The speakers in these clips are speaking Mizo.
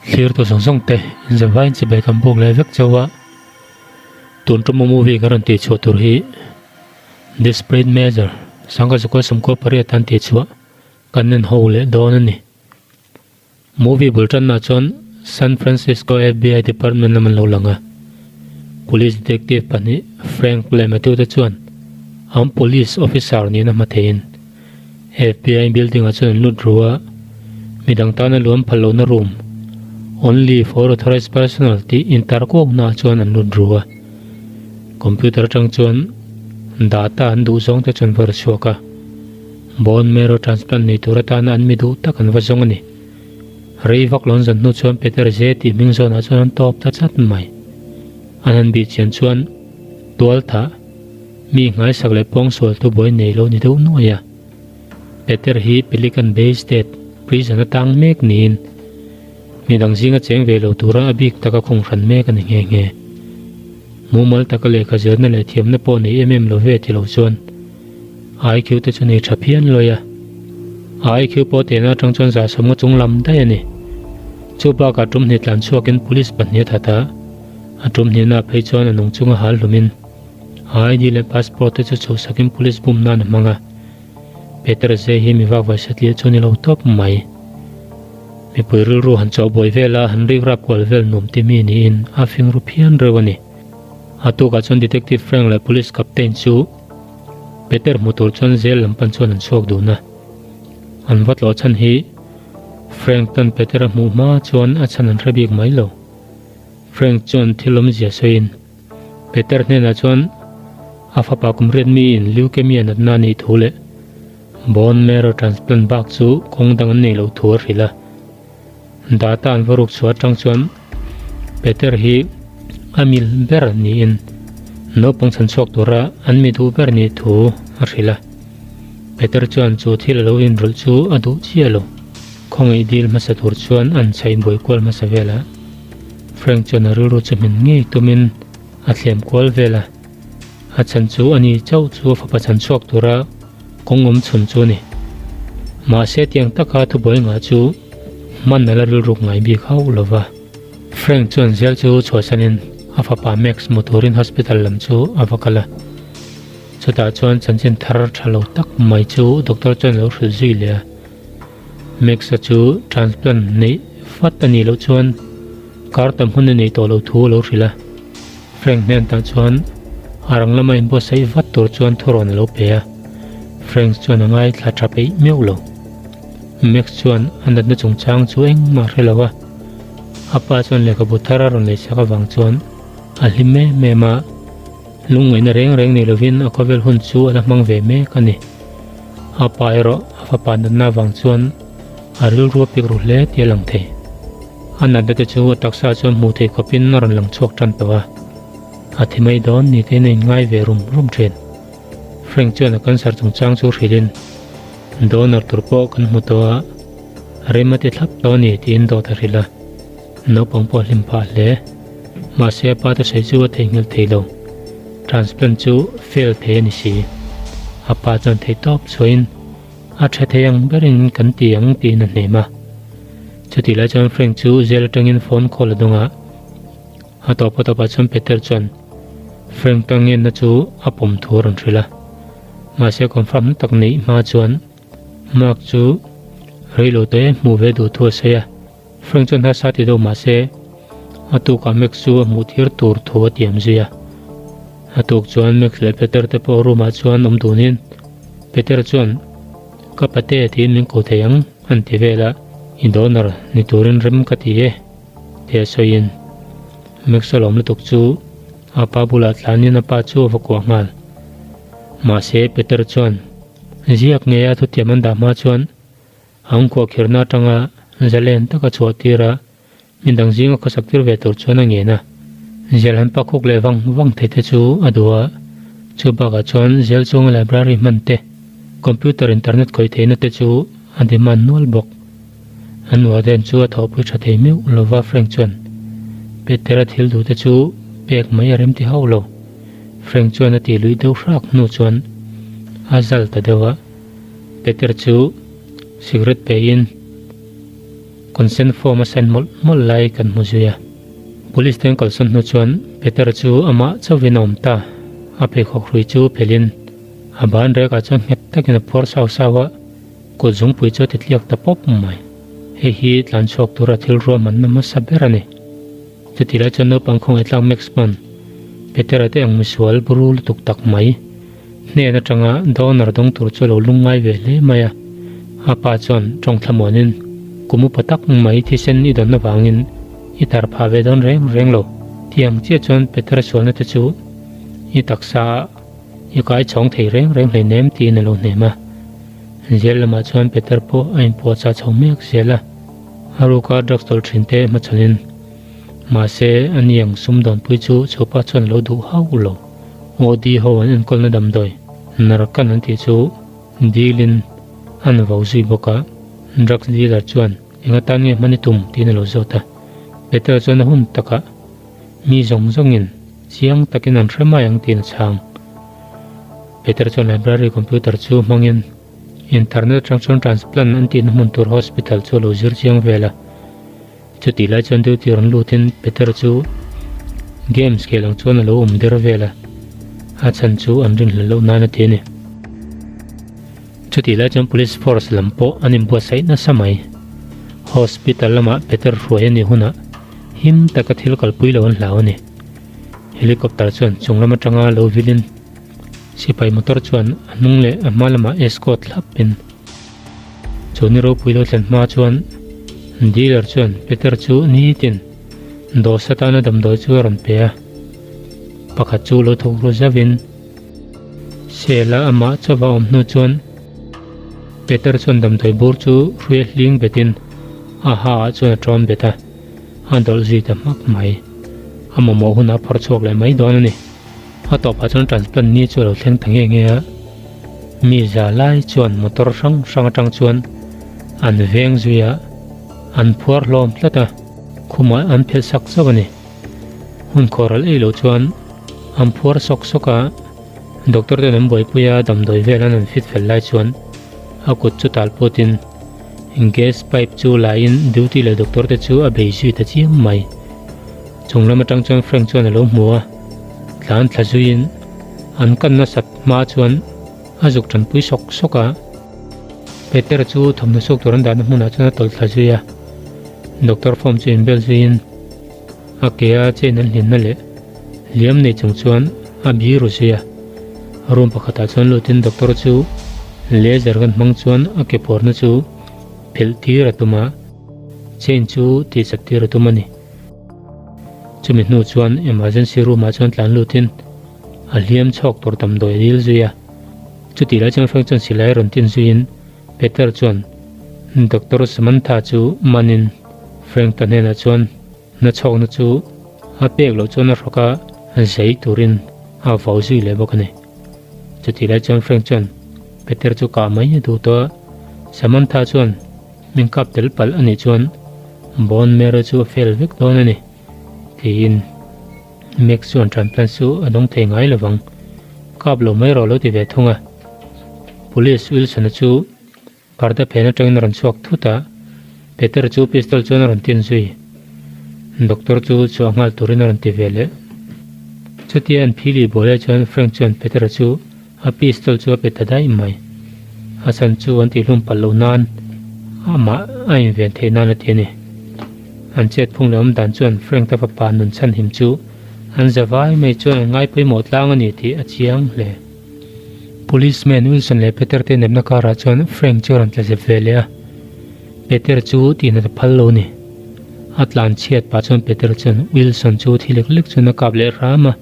Thlir-tu zawng zawng te inzir vai in chibai kan bawk leh vek chauh a, tun ṭawm a movie kan rawn tih chhuah tur hi this print major sangha zakua sumkua pariat a an tih chhuah kan nen ho leh dawn a ni. Movie bul ṭanna chuan San Francisco FBI Department lam an lo lang a, Police Detective pahnih Frank leh Matthew te chuan an Police Officer niin a hma thei in, Fbi building a chuan lut ru a, midang tana luam phal lohna room, only for authorized personnel tih intar kawk naah chuan an lut ru a. Computer atang chuan data an duh zawng te chuan va ru chhuak a. Bone marrow transplant nei tur atana an mi duh tak an va zawng a ni. Rei vak lo an zawt hnu chuan Peter Zee tih hming zawnah chuan an tawp ta chat mai. An han bih chian chuan, Tualtha, Mi nghaisak leh pawngsualtu buai nei lo ni deuh nuai a. Peter hi Pelican Bay State Prison a tang mek niin midang zing a cheng ve lo tura a bik taka khung hran mek a ni nghe nghe. Mumal taka lehkha zirna leh thiamna pawh nei em em lo ve ti lo chuan IQ te chu nei tha phian luai a. A IQ pawh tena atang chuan za sawmnga chunglam daih a ni. Chu bakah ṭum hnitlan chhuakin police pahnihat hata, A ṭumhniahna phei chuan a nung chunga hal hlumin a ID leh passport te chu chhosakin police bum nan a hmang a. Peter zei hi mi vakvaisa tih a chu a ni lo tawp mai. Mipui rilru han chawhbawi vel a, han rikrap kual vel nuam timi niin a fing ru phian reuh a ni. A tukah chuan Detective Frank leh Police Captain chu Peter hmu tur chuan zêl lam pan chuan an chhuak dun a. An va tlawh chhan hi Frank tan Peter a hmuh hma chuan a chhan an hre bik mai lo. Frank chuan thil awmzia sawiin Peter hnenah chuan a fapa kum riatmiin leukemia natna a nih thu leh bone marrow transplant bak chu kawng dang an nei lo thu a hrilh a. Data an va ruk chhuah atang chuan Peter hi a mil ber niin naupang chhan chhuak tura an mi duh ber nih thu a hrilh a. Peter chuan chu thil a lo inrawlh chu a duh chiah lo. Khawngaih dil hmasa tur chuan a han chhaih buai kual hmasa velah. Frank chuan a rilru chawhminh ngei tumin a thlem kual vel a, A chhan chu ani chauh chu a fapa chhan chhuak tura kawng awm chhun chu a ni. Mahse tiang taka thubuai ngah chu hman ala rilruk ngai bik hauh lo va. Frank chuan zel chu chhuahsanin a fapa Max hmu turin hospital lam chu a va kal a. Chutah chuan chanchin thar tha lo tak mai chu doctor chuan a lo hrilh zui leh a. Max-a chu transplant neih fat a nih loh chuan kar tam hmun a nei tawh lo thu a lo hrilh a. Frank hnen tah chuan a rang lama inbuatsaih vat tur chuan thurawn a lo pe a. Frank chuan a ngaithla tha peih meuh lo. Max chuan a natna chungchang chu engmah a hre lo a. A pa chuan lehkhabu thar a rawn lei chak avang chuan a hlim em em a. Lungngaihna reng reng nei lovin a khawvel hun chu a la hmang ve mek a ni. A pa erawh a fapa natna vang chuan a rilru a pik ru hle tih a lang thei. A natnate chu a taksa chuan hmuh theih khawpin a rawn lang chhuak tan tawh a, a thi mai dawn ni te in a inngai ve rum rum thin. Frank chuan a cancer chungchang chu hrilhin donor tur pawh kan hmu tawh a, a rimati thlap tawh a ni tiin dawt a hrilh a. Naupang pawh a hlim phah hle. Mahse a pate sawi chu a theihnghilh thei lo. Transplant chu fail thei a ni si. A pa chuan thei tawp chhuahin, A ṭha thei ang ber in kan ti ang, tiin a hnem a. Chutih lai chuan Frank chu zêl aṭangin phone call a dawng a. A tawp a tawp ah chuan Peter chuan Frank tang ngenna chu a pawm thu a rawn hrilh a. Mahse confirm hnu tak neih hma chuan Mark chu rei lo tawh e hmuh ve duh thu a sawi a. Frank chuan hla sa tih deuh mah se, a tukah Max chu a hmuh thir tur thu a tiam zui a. A tuk chuan Max leh Peter te pawh room ah chuan awm dunin Peter chuan, Ka pate tiin min kuh thei ang, an ti vel a, i donor ni turin rem ka ti e, tia sawiin Max a lawm lutuk chu a pa bulah tlanin a pa chu a va kuah nghal. Mahse Peter chuan, Ziak ngeia thutiam an dah hma chuan, An khuahkherhna atanga zalen taka chhuah tir a, mi dang zinga khawsak tir ve tur chuan a ngen a. Zêl han pak hawk leh vang vang thei te chu a duh a. Chu bakah chuan zêl chunga library hman te, computer internet khawi theihna te chu a demand nual bawk. An warden chu a thawhpui tha thei meuh lo va Frank chuan. Peter a thil duhte chu pek mai a rem ti hauh lo. Frank chuan a tih luih deuh hrak hnu chuan a zal ta deuh a. Peter chu cigarette peiin consent form a sign mawlh mawlh lai kan hmu zui a. Police te an kal sawn hnu chuan Peter chu amah chauhin a awm ta. A pheikhawk hrui chu phelhin a ban rek ah chuan nghet takin a puar sau sau a, kut zungpui chu a titliak ta pawp mai. Hei hi tlan chhuak tura thil ruahmanna hmasa ber a ni. Chuti lai chuan naupang khawngaih tlak Max pawn Peter a teh ang misual buru lutuk tak mai. Hnen atanga donor dawng tur chu a lo lung ngai ve hle mai a. A pa chuan tawngthla muanin, Kum upa tak mai thisen i dawn avangin i tar phah ve dawn reng reng lo, ti ang chiah chuan Peter-a sualna te chu i taksaah i kaichawng thei reng reng hleinem tiin a lo hnem a. Zir lamah chuan Peter pawh a inpuahchah chho mek zel a. A ruka drugs dawr thin te hma chuanin mahse a ni ang Sumdawnpui chu chhuapa chuan a lo duh hau lo. Modi ho an enkawlna damdawi narcan an tih chu deal in an vau zui bawk a, drugs dealer chuan enga tan nge hman i tum tiin a lo zawt a. Petel chuan a hun takah mi zawng zawngin chiang takin an hre mai ang tiin a chhang. Peter chuan library computer chu hmangin. Internet atang chuan transplant an tihna hmun tur hospital chu a lo zir chiang vel a, chutih lai chuan duty rawn lutin Peter chu games keh loh chuan a lo awm der vel a, a chhan chu an rin hla loh nan a ti a ni. Chutih lai chuan police force lam pawh an inbuatsaih nasa mai. Hospital lamah Peter hruai a nih hunah him taka thil kalpui lo an hlau a ni. Helicopter chuan chunglam atanga lo vilhin. Sipai motor chuan a hnung leh a hma lamah escort thlap in chu ni ropui lo thlen hma chuan dealer chuan Peter chu nitin dawr satana damdawi chu a rawn pe a, pakhat chu lo thawk ruh zauh in sale a amah chauh a awm hnu chuan Peter chuan damdawi bur chu hruia hling bet in a ha ah chuan a ṭawn bet a, a dawlh zui ta hmak mai, a mamawh hun a phawr chhuak leh mai dawn a ni. A tawpah chuan transplant ni chu a lo thleng ta nge nge a, mi za lai chuan motor hrang hrang atang chuan an veng zui a, an phuar hlawm tlat a, khumah an phelh sak zauh a ni. Hun khawral ei lo chuan an phuar sawk sawk a, doctor ten an buaipui a, damdawi vel an han fit fel lai chuan a kut chu tal put in gas pipe chu la in duty leh doctor te chu a bei zui ta chiang mai. Chunglam atang chuan Frank chuan a lo hmu a, Tlan thla zuiin an kan nasat hma chuan a zuk tanpui sawk sawk a. Peter chu thawmhnaw suk tur an dahna hmunah chuan a tawlhthla zui a. Doctor form chu inbel zuiin a ke a chain an hlinna leh liam nei chung chuan a bi ru zui a. Room pakhatah chuan lutin doctor chu laser kan hmang chuan a ke phawrhna chu philh tir a tum a, chain chu tihchap tir a tum a ni. Chumi hnu chuan emergency room ah chuan tlan lut in a hliam chhawk tur tam dawi ril zui a. Chuti lai chang feng chuan silai rawn tin zui in Peter chuan, Doctor Samantha chu man in Frank ta hnenah chuan, Na chhawk na chu a pek loh chuan a hrawk a, zei tur in a vau zui leh bawk a ni. Chuti lai chuan Frank chuan Peter chu kah mai a dut a. Samantha chuan, Min kap tel palh a nih chuan bone marrow chu a fail vek dawn a ni, tiin Max chuan tranplant chu a dawng thei ngai lovang. Kap lo mai rawh lo ti ve thung a. Police Wilson-a chu parda phen atangin a rawn chhuak thut a, Peter chu pistol chuan a rawn tin zui. Doctor chu chhuah nghal turin a rawn ti ve leh. Chutia an philih buailai chuan Frank chuan Peter-a chu. A pistol chu a pe ta daih mai. Hasan chu an tihlum palh loh nan amah a inven theih nan a ti a ni. An chet phung leh awm dan chuan Frank te fapa nun chhan him chu an za vai mai chuan an ngai pawimawh tlang a ni tih a chiang hle. Policeman Wilson leh Peter te nepna karah chuan Frank chu a rawn tla zep ve leh a. Peter chu tihna ta phal lo ni. A tlan chhiat pah chuan Peter chuan Wilson chu thil lek lek chuan a kap leh hram a.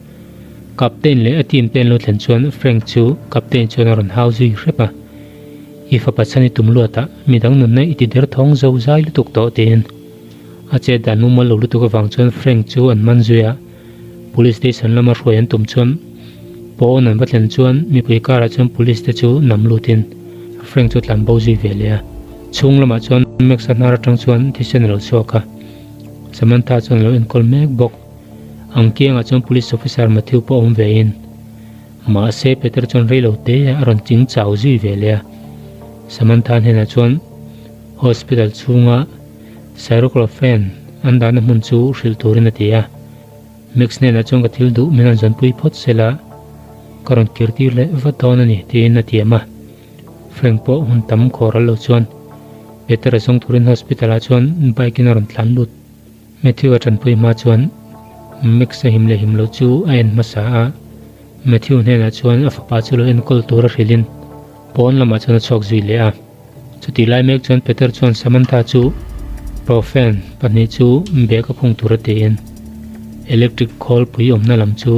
Captain leh a team te an lo thlen chuan Frank chu captain chuan a rawn hau zui hrep a, I fapa chhan i tum luat ah midang nunna i ti der thawng zo zai lutuk tawh tiin a chet dan mumal lo lutuk avang chuan Frank chu an man zui a, police station lama hruai an tum chuan pawn an va thlen chuan mipui kar ah chuan police te chu nam lut in Frank chu a tlan bo zui ve leh a, chhung lamah chuan Max a hnar atang chuan thisen a lo chhuak a, Samantha chuan a lo enkawl mek bawk. Ang kiangah chuan police officer Mathew pawh a awm ve in, mahse Peter chuan rei lo te a rawn ching chau zui ve leh a. Samantha hnenah chuan hospital chhunga Syroclofen an dahna hmun chu hrilh turin a ti a. Max hnenah chuan ka thil duh min rawn zawn pui phawt sela ka rawn kirtir leh vat dawn a ni tiin a tiam a. Frank pawh hun tam khawral lo chuan Peter a zawng turin hospital ah chuan bike in a rawn tlan lut. Matthew a tanpui hma chuan Max a him leh him loh chu a en hmasa a. Matthew hnenah chuan a fapa chu lo enkawl tur a hrilhin pawn lamah chuan a chhuak zui leh a. Chutih lai mek chuan Peter chuan Samantha chu Profen pahnih chu bag a phung tur a tiin electric khawl pui awmna lam chu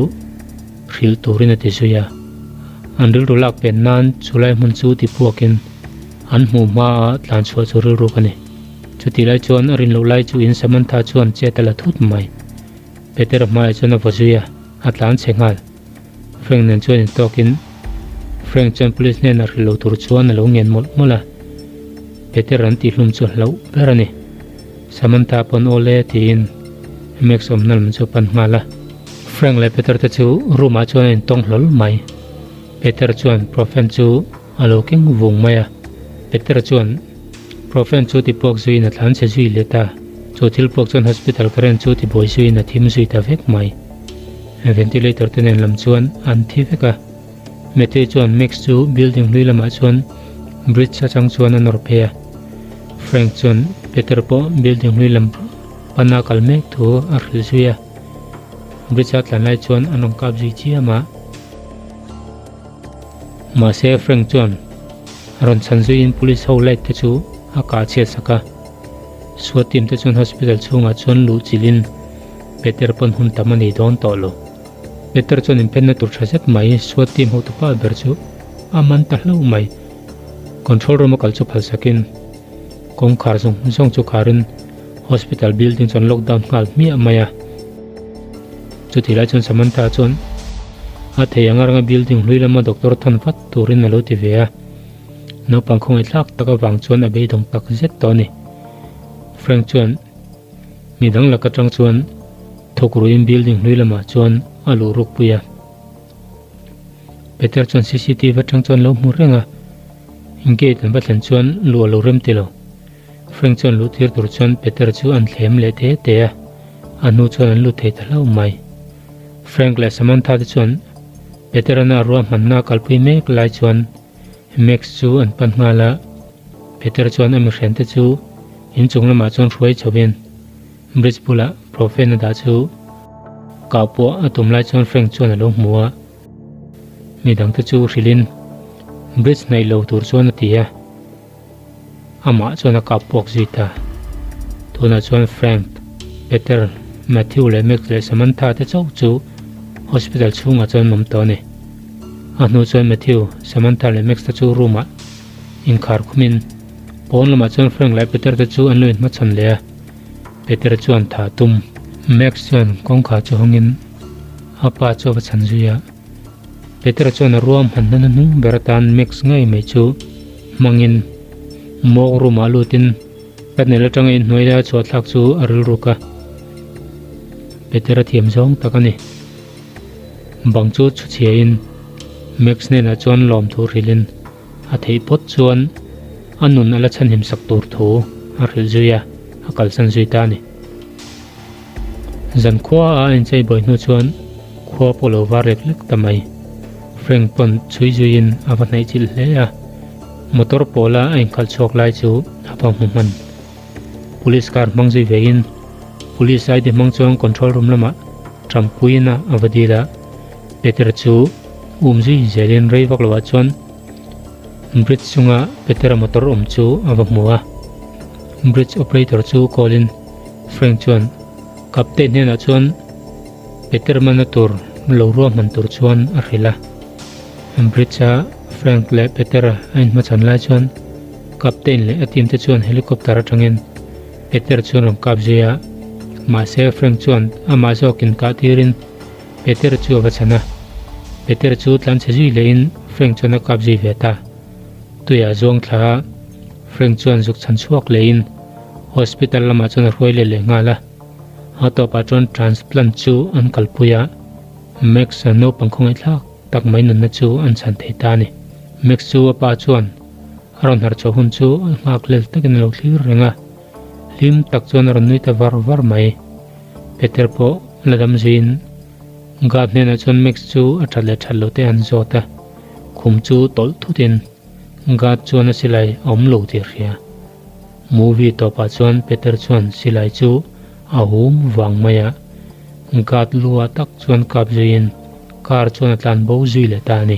hrilh turin a ti zui a. An rilru lak pen nan chulai hmun chu tipuakin an hmuh hmaa tlanchhuah chu rilruk a ni. Chuti lai chuan a rin loh lai chu in Samantha chuan chet a la thut mai. Peter-a hmaiah chuan a va zui a, a tlan che nghal. Frank nen chuan in tawk in Frank chuan police hnenah hrilh lo tur chuan a lo ngen mawlh mawlh a. Peter an tih hlum chu a hlauh ber a ni. Samantha pawn awl e tiin Max awmna lam chu a pan nghal a. Frank leh Peter te chu room ah chuan a in tawng hlawl mai. Peter chuan Profen chu. A lo keng vung mai a. Peter-a chuan, Profen chu tipuak zuiin a tlan che zui let a, chu thil puak chuan hospital ka rent chu tibuai zuiin a thim zui ta vek mai. Ventilator te nen lam chuan an thi vek a. Matthew chuan Max chu building hlui lamah chuan bridge atang chuan a nawr phei a. Frank chuan Peter pawh building hlui lam pana kal mek thu a hrilh zui a. Bridge a tlan lai chuan an rawn kap zui chiam a. Mahse Frank chuan a rawn chhan zuiin police ho light te chu a kah chhiat sak a. Suat team te chuan hospital chhungah chuan luh chilhin Peter pawn hun tam a nih dawn tawh lo. Peter chuan inphenna tur tha zet mai, Suat team ho tu pa ber chu a man ta hlo mai. Control room a kal chu phal sakin kawng khar zawng zawng chu kharin hospital building chuan lockdown nghal hmiah mai a. Chuti lai chuan Samantha chuan a thei anga ranga building hlui lama doctor than vat turin a lo ti ve a. Naupang khawngaih thlak tak avang chuan a beidawng tak zet tawh a ni. Frank chuan mi dang lak atang chuan thawk ruin building hlui lamah chuan a luh ruk pui a. Peter chuan CCTV atang chu an lo hmu reng a, gate an va thlen chuan luh a lo rem ti lo. Frank chuan luh tir tur chuan Peter chu an thlem leh te te a, a hnu chuan an lut thei ta hlau mai. Frank leh Samantha te chuan Peter ana a rua hmanna a kalpui mek lai chuan Max chu an pan nghal a, Peter chuan a mihrente chu inchung lamah chuan hruai chauhin, Bridge bulah Prophet-na dah chu kau pawh a tum lai chuan Frank chuan a lo hmu a, mi dangte chu hrilhin Bridge hnaih lo tur chuan a ti a, amah chuan a kap puak zui ta. Tunah chuan Frank, Peter, Matthew leh Max leh Samantha te chauh chu hospital chhungah chuan an awm tawh a ni. A hnu chuan Matthew, Samantha leh Max te chu room-ah inkhar khumin pawn lamah chuan Frank leh Peter te chu an lo inhmachhan leh a. Peter chuan tha a tum. Max chuan kawngkhar chu hawngin a pa chu a va chhan zui a. Peter chuan a ruam hman hna na hnung ber atan Max ngei mai chu hmangin mawk room ah lutin Panel atanga inhnuai laia chhuahthlak chu a rilruk a. Peter a thiam zawng tak a ni. Bang chu chhuchhiain Max hnenah chuan lawm tur hrilhin. A theih phawt chuan a nun a la chhanhim sak tur thu a hrilh zui a, a kalsan zui ta a ni. Zan khua a en chei buai hnu chuan khua pawh lo var lek lek ta mai. Frank pawn chhui zuiin a va hnaih chilh hle a, motor pawla a inkhalh chhuak lai chu a va hmu hman. Police car hmang zui vein Police aidi hmang chuan control room lamah ṭam puiin a va dil a, Peter chu Um zui zel in rei vak lo ah chuan bridge chunga Petera motor awm chu a va hmu a, bridge operator chu call in Frank chuan Captain hnen ah chuan Peter man na tur lo ruah hman tur chuan a hrilh a. Bridge a Frank leh Peter a in hma chhan lai chuan Captain leh a team te chuan helicopter aṭang in Peter chuan rawn kap zui a, mahse Frank chuan amah zawk in kah tir in, Peter chu a va chhan a, Peter chu tlan chhe zui leh in Frank chuan a kap zui ve ta. Tui ah zuang thla ah Frank chuan zuk chhan chhuak leh in hospital lam ah chuan a hruai let leh nghal a. A tawp ah chuan transplant chu an kal pui a, Max a naupang khawngaihtlak tak mai nunna chu an chhan thei ta a ni. Max chu a pa chuan a rawn harh chho hun chu a nghak lel tak in a lo thlir reng a. Hlim tak chuan a rawn nui ta var var mai. Peter pawh la dam zin. Guard hnenah chuan Max chu a that leh that lote an zawt a, khum chu tawlh thutin guard chuan a silai a awm lo tih hria. Movie tawpah chuan Peter chuan silai chu a hum vang mai a. Guard lua tak chuan kap zuiin car chuan a tlan bo zui leh ta a ni.